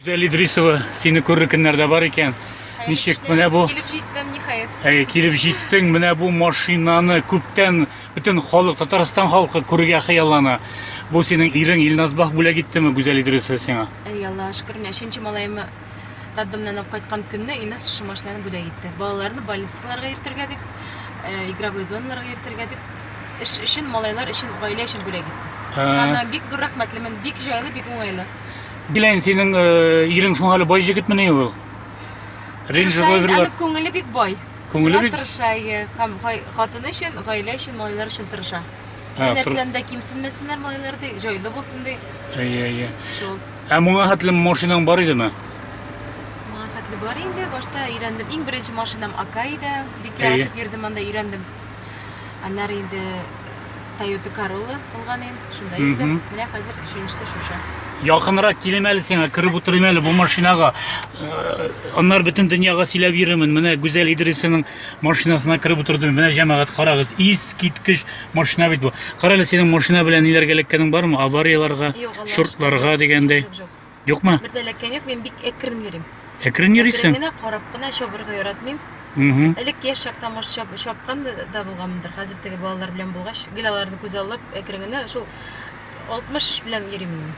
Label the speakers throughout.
Speaker 1: Гүзәл Идрисова, сине күрер көннәрдә бар икән. Ничек менә бу? Килеп җиттем, ниһаять.
Speaker 2: Әй, килеп җиттең,
Speaker 1: менә бу машинаны күптән бөтен халык, Татарстан халкы күрергә хыяллана. Бу синең ирең Илназбах бүләк иттеме Гүзәл Идрисова сиңа? Әй, Аллаһ шөкер, менә
Speaker 2: өченче малаемны Роддомнан алып кайткан көнне Илназ шушы машинаны бүләк итте. Балаларны больницаларга йөртергә дип, э, игровой зоналарга йөртергә дип, эш өчен, малайлар өчен, гаилә өчен бүләк итте. Аннан бик зур рәхмәтлемен, бик җайлы, бик уңайлы. Биләйн,
Speaker 1: синең э, ирең шуңа әле бай җегетмени ул? Рейндж Тырыша инде, Роверлар. аның күңеле
Speaker 2: бик бай. Күңеле Шуңа бик- тырыша,
Speaker 1: әйе. Һәм
Speaker 2: гай- хатыны өчен, гаилә өчен, малайлар өчен тырыша. Ә, Бер нәрсәдән дә кимсенмәсеннәр малайлар, ди, җайлы булсын, ди. Әйе, әйе. Шул. Ә моңа хәтле
Speaker 1: машинаң бар идеме? Моңа
Speaker 2: хәтле бар инде, башта өйрәндем. Иң беренче машинам Ака иде. Бик яратып йөрдем, анда өйрәндем. Аннары инде Toyota Corolla булган иде, шунда йөрдем. Менә хәзер өченчесе шушы. Якынрак килем
Speaker 1: әле сиңа, кереп утырыйм әле бу машинага. Аннары бөтен дөньяга сөйләп йөрермен. Менә Гүзәл Идрисованың Машинасына кереп утырдым. Менә җәмәгать, карагыз, искиткеч машина бит бу. Кара әле синең машина белән ниләргә эләккәнең бармы? Аварияларга, шортларга дигәндәй. Юкмы? Бер дә эләккән юк, мин
Speaker 2: бик әкрен йөрим. Әкрен йөрисең? Әкрен
Speaker 1: генә карап кына чабырга
Speaker 2: яратмыйм. Элек яшь чакта мош чапкан да булганмындыр. Хәзер теге балалар белән булгач, гел аларны күз алып, әкрен генә шул 60 белән йөрим мин.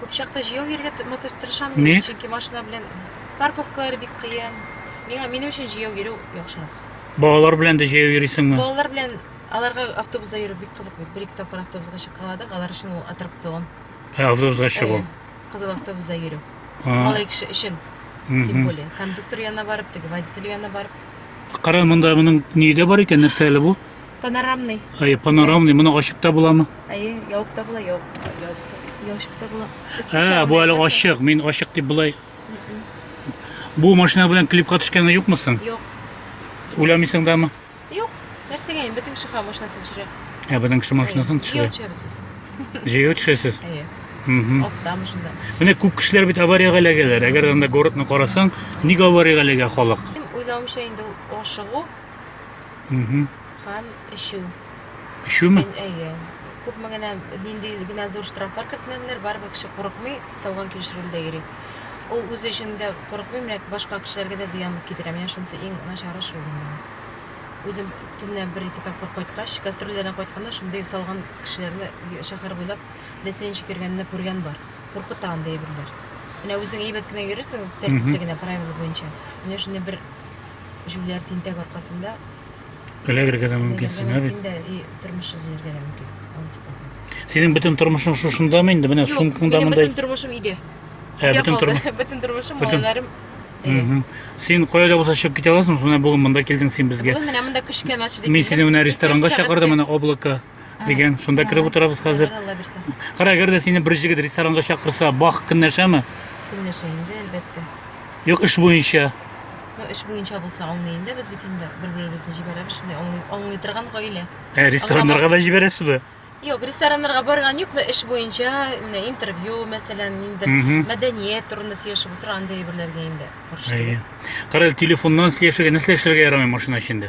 Speaker 1: Күп
Speaker 2: чакта җәяү йөрергә тырмыкыш тырышам, Ни? мин, чөнки машина белән парковкалар бик кыен. Миңа минем өчен җәяү йөрү яхшырак. Балалар белән дә
Speaker 1: җәяү йөрисеңме? Балалар белән
Speaker 2: аларга автобуста йөрү бик кызык бит. Бер-ике тапкыр автобуска чыккаладык, алар өчен ул аттракцион. Ә, автобусга
Speaker 1: чыгу. Әйе, Кызыл автобуста
Speaker 2: йөрү. А, Малай кеше өчен, тем мгм. более. Кондуктор янына барып, теге водитель янына барып. Кара, монда
Speaker 1: моның ни дә бар икән, нәрсә әле бу? Панорамный.
Speaker 2: Әйе, панорамный. Моны
Speaker 1: ачып та буламы? Әйе, ябып та
Speaker 2: була, ябып та, ябып та, ябып та була. Ә, бу әле ачык. Мин
Speaker 1: ачык дип булай. Бу машина белән клипка төшкәнгә юкмы соң? Юк.
Speaker 2: Уйламыйсың
Speaker 1: дамы? Юк.
Speaker 2: Нәрсәгә инде бөтен шиха машинасын төшерә. Ә, бөтен кеше машинасын
Speaker 1: төшерә. Җәяү төшәбез без. Җәяү төшәсез? Әйе. Аттам
Speaker 2: шунда. Менә күп кешеләр бит
Speaker 1: авариягә эләгәләр. Әгәр анда городны карасаң, ник авариягә эләгә халык? Уйлавымча инде
Speaker 2: ул ашыгу Угу. Һәм эчү. Эчүме?
Speaker 1: Мин әйе.
Speaker 2: Күпме генә нинди генә зур штрафлар кертмәделәр, барыбер кеше курыкмый, салган килеш рульдә йөри. Ул үзе өчен дә курыкмый, менә башка кешеләргә дә зыян китерә. Менә шунысы иң начары шул гына. Үзем төнлә бер-ике тапкыр кайткач, гастрольләрдән кайтканда шундый салган кешеләрне шәһәр буйлап ләсенчик йөргәнне күргән бар. Куркыта андый әйберләр. Менә үзең әйбәт кенә йөрисең, тәртипле генә правила буенча. Менә шундый бер җүләр тинтәк аркасында эләгергә
Speaker 1: дә мөмкин син, ә бит? Инде и тормыш
Speaker 2: өзелергә дә мөмкин. Алыс калсын. Синең
Speaker 1: бөтен тормышың шушындамы инде? Менә сумкаңда монда. Бөтен тормышым
Speaker 2: иде. Ә, бөтен тормыш. Бөтен тормышым малайларым.
Speaker 1: Син кайда булса чыгып китә аласың, менә бүген монда килдең син безгә. Бүген менә монда күчкән
Speaker 2: ачы. Мин сине менә ресторанга
Speaker 1: чакырдым, менә облако. дигән шунда кереп утырабыз хәзер кара әгәр дә сине бер җегет ресторанга чакырса бах көнләшәме көнләшә инде
Speaker 2: әлбәттә юк эш
Speaker 1: буенча ну эш буенча
Speaker 2: булса аңлый инде без бит инде бер беребезне җибәрәбез шундый аңлый аңлый торган гаилә ә рестораннарга да
Speaker 1: җибәрәсезме Юк, рестораннарга
Speaker 2: барган юк, но эш буенча, менә интервью, мәсәлән, инде мәдәният турында сөйләшеп утырган андый әйберләргә инде. Кара,
Speaker 1: телефоннан сөйләшергә, нәрсә эшләргә ярамый машина эчендә?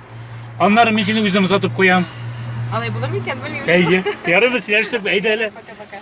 Speaker 1: Аннары мин сине үзем озатып куям.
Speaker 2: Алай
Speaker 1: булыр микән,
Speaker 2: белмим.
Speaker 1: Әйе.
Speaker 2: Ярыбыз
Speaker 1: яшьтек, әйдә
Speaker 2: әле.
Speaker 1: Пока-пока.